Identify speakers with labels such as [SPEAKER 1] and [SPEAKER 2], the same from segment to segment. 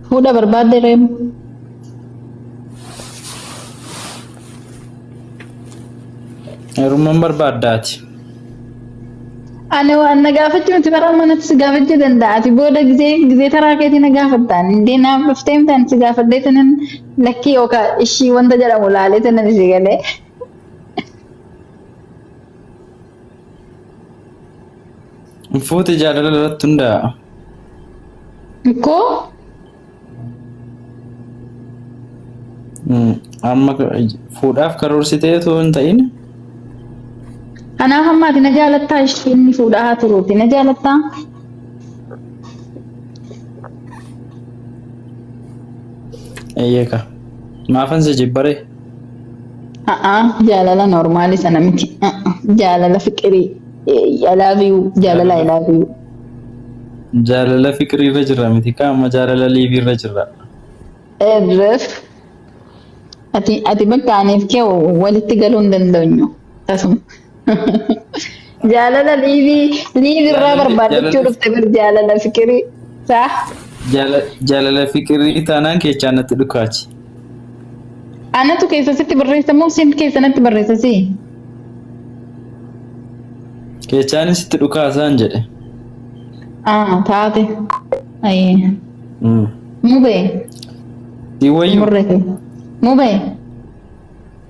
[SPEAKER 1] Fuudha barbaadde reem.
[SPEAKER 2] Heerumman barbaaddaati.
[SPEAKER 1] Ani waan na gaafachuu miti bara manatti si gaafachuu danda'a. Ati booda gizee gizee taraa keetii na gaafattaan. Indee naaf dhuftee miti ani si gaafadhee tanan lakkii yookaan ishii wanta jedhamu laalee tanan ishee galee.
[SPEAKER 2] Fuute jaalala irratti hundaa'a.
[SPEAKER 1] Koo
[SPEAKER 2] Mm, Amma fuudhaaf karoorsitee otoo hin ta'in kanaaf
[SPEAKER 1] ammaati na jaalattaa ishee inni fuudhaa haa turuuti na jaalattaa.
[SPEAKER 2] eeyyeka. Maafan si jibbaree? A'a
[SPEAKER 1] jaalala normaali sana miti. A'a jaalala fiqirii. I love you jaalala I love you.
[SPEAKER 2] Jaalala fiqirii irra jirra miti kaa amma jaalala liivii irra jirra. Erref
[SPEAKER 1] ati ati bakka aniif kee walitti galuu hin dandeenyu tasuma. Jaalala liivii liivii irraa Jaalala- barbaadachuu jaalala- dhufte bar jaalala fikirii saa
[SPEAKER 2] Jaala- Jaalala fiqirii taanaan keechaa natti dhukaachi.
[SPEAKER 1] anatu keessa sitti barreessa moo siin keessa natti barreessa si
[SPEAKER 2] Keechaan sitti dhukaasaan jedhe. ah
[SPEAKER 1] taate ayee Mm. mubee
[SPEAKER 2] Si wayyu. murrete
[SPEAKER 1] mubee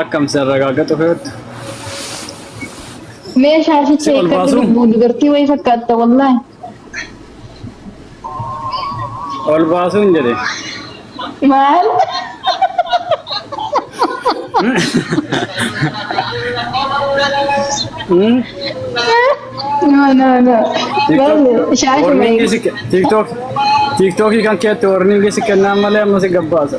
[SPEAKER 3] Akkam si arragaagatu fe'attu.
[SPEAKER 1] Mee shaashicha Si ol eeggatti baasuu? lubbuu dubartii wayii fakkaatta wallaahi.
[SPEAKER 3] Ol baasuun jedhe. Maal?
[SPEAKER 1] Hmm? No, no, no. Maal? Shaashuma Warningi eeggadhu. si ke- TikTok-
[SPEAKER 3] TikTokii kan keetti warningi si kennaan malee amma si gabbaasa.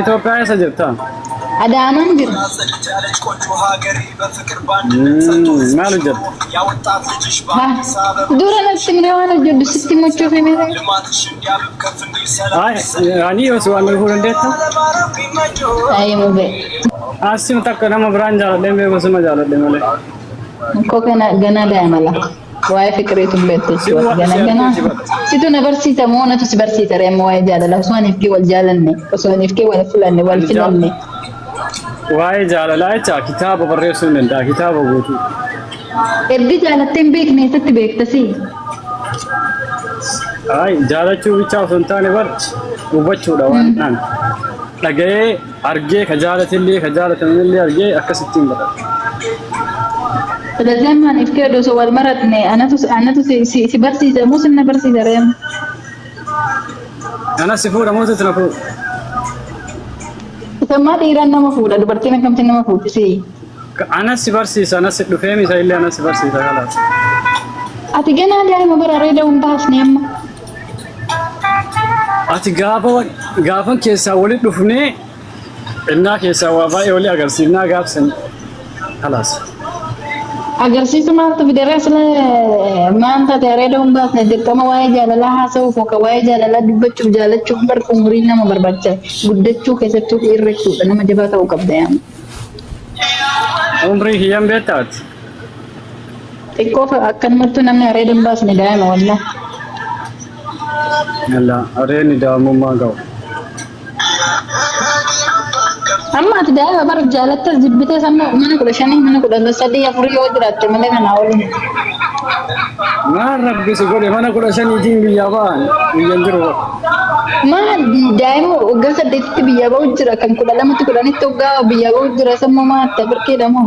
[SPEAKER 1] Itoophiyaa
[SPEAKER 3] eessa jirta? Adaanaan
[SPEAKER 1] jira.
[SPEAKER 3] Maal hojjetta?
[SPEAKER 1] Dura natti himne waan hojjedhu sitti himachuuf hime. Ay,
[SPEAKER 3] ani yoo si waan dhufuu dandeetta?
[SPEAKER 1] Ayi mube. Asii
[SPEAKER 3] takka
[SPEAKER 1] nama
[SPEAKER 3] biraan jaaladhee beeku
[SPEAKER 1] sima
[SPEAKER 3] jaaladhe malee.
[SPEAKER 1] Koo
[SPEAKER 3] kana ganaa daa'ima
[SPEAKER 1] laa. Waa'ee fiqireetu hin beektu Sin jechuudha. waadha Gana si gana. argee si bada. Situ na barsiisa moo natu si barsiisa ree amma waa'ee jaalalaa osoo aniif kee wal jaalanne osoo aniif kee wal fulanne wal Ani jaa- filanne.
[SPEAKER 3] Waa'ee jaalalaa jecha kitaaba barreessuu hin danda'a kitaaba guutuu. Erga
[SPEAKER 1] jaalattee hin beekne eessatti beektasi?
[SPEAKER 3] Ay, jaalachuu bichaa osoo hin taane bar hubachuudha waan ta'an. Dhaga'ee Argee ka jaalatellee ka jaalatamnellee argee akkasitti hin baqatu. Silazii
[SPEAKER 1] amma ani fi Keedu osoo wal maratne anatu anatu si, si, si barsiisa moo sin na barsiisa reem?
[SPEAKER 3] Anas si fuudha moo sitti na fuudha?
[SPEAKER 1] Isammaa dhiiraan nama fuudha dubartiin akkamtiin nama fuudhi si. Ka- Anas si
[SPEAKER 3] barsiisa anas si dhufee misa illee anas si barsiisa kalaas. Ati
[SPEAKER 1] ganaa daa'ima bara reeda hin baasne amma.
[SPEAKER 3] Ati gaafa wa- gaafan keessaa wali dhufnee innaa keessaa waa baay'ee wali agarsiifnaa gaafsan kalaas.
[SPEAKER 1] Agarsiisa maaltu fideera sila maal taate areeda hin baasne dirqama waa'ee jaalalaa haasa'uuf yookaan waa'ee jaalalaa dubbachuuf jaalachuuf bar umuriin nama barbaachisa. Guddachuu keessattuu dhiirri jechuudha nama jabaa ta'uu qabda yaama. Umrii
[SPEAKER 3] kiyyan beektaati.
[SPEAKER 1] Xiqqoo fa- akkanumattuu namni areeda hin baasne daa'ima wallah.
[SPEAKER 3] Yalla areedni daa'imummaa ga'u.
[SPEAKER 1] Amma ati daa'ima bar jaalattas jibbites amma mana kudha shanii mana kudha sadii afurii yoo jiraatte malee kanaa waliin.
[SPEAKER 3] Maal rabbi si godhe mana kudha shaniitiin biyyaa ba'an biyyan jiru bara. Maal
[SPEAKER 1] daa'ima waggaa saddeetitti biyyaa ba'u jira kan kudha lamatti kudhanitti waggaa biyyaa ba'u jira sammuu maal ta'e birkeedha moo?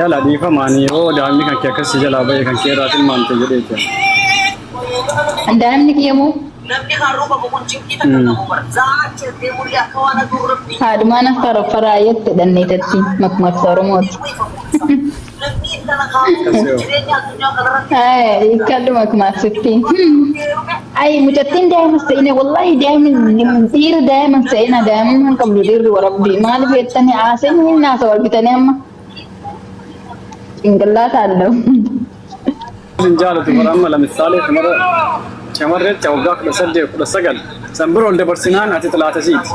[SPEAKER 3] Yala dhiifama ani yoo daa'imni kan kee akkasii jalaa ba'e kan kee irraa tilmaamte jedhee jira. Daa'imni
[SPEAKER 1] kiyya moo Namni kan ruufamu kun cinqii takka Mm. qabu bara. Za'aa achi ergee mul'ee akka waan aduu rabbi haadhumaan akka raffaraa jette dhanneetattiin makmaksa Oromooti. Namni intala kaa'u Akkasii hoo? jireenya Kalluma akkuma asitti. Ayi mucattiin daa'ima se'ina wallahi daa'imni dhiirri daa'ima se'ina daa'imni hin qabdu dhiirri warabbii maaliif jettanii haaseen hin naasa wal bitanii amma cinqillaata allau.
[SPEAKER 3] Hin jaalatu bara amma lamisaalee shamara shamarree ta'e waggaa kudha saddeet kudha sagal san bira ol dabarsinaan ati xilaatasiiti.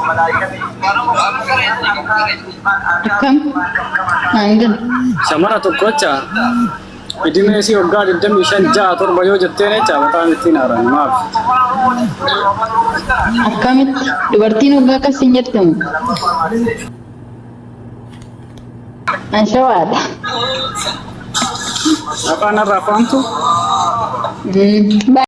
[SPEAKER 1] Akkam? Naan gala. Shamara
[SPEAKER 3] tokkocha idimee isii waggaa 25 6 7 yoo jetteen jecha bataa mittiin haaraan maaf?
[SPEAKER 1] Akkamitti? Dubartiin waggaa akkas siin jette moo? An shawaadha.
[SPEAKER 3] Afaan irraa faamtu? Mm,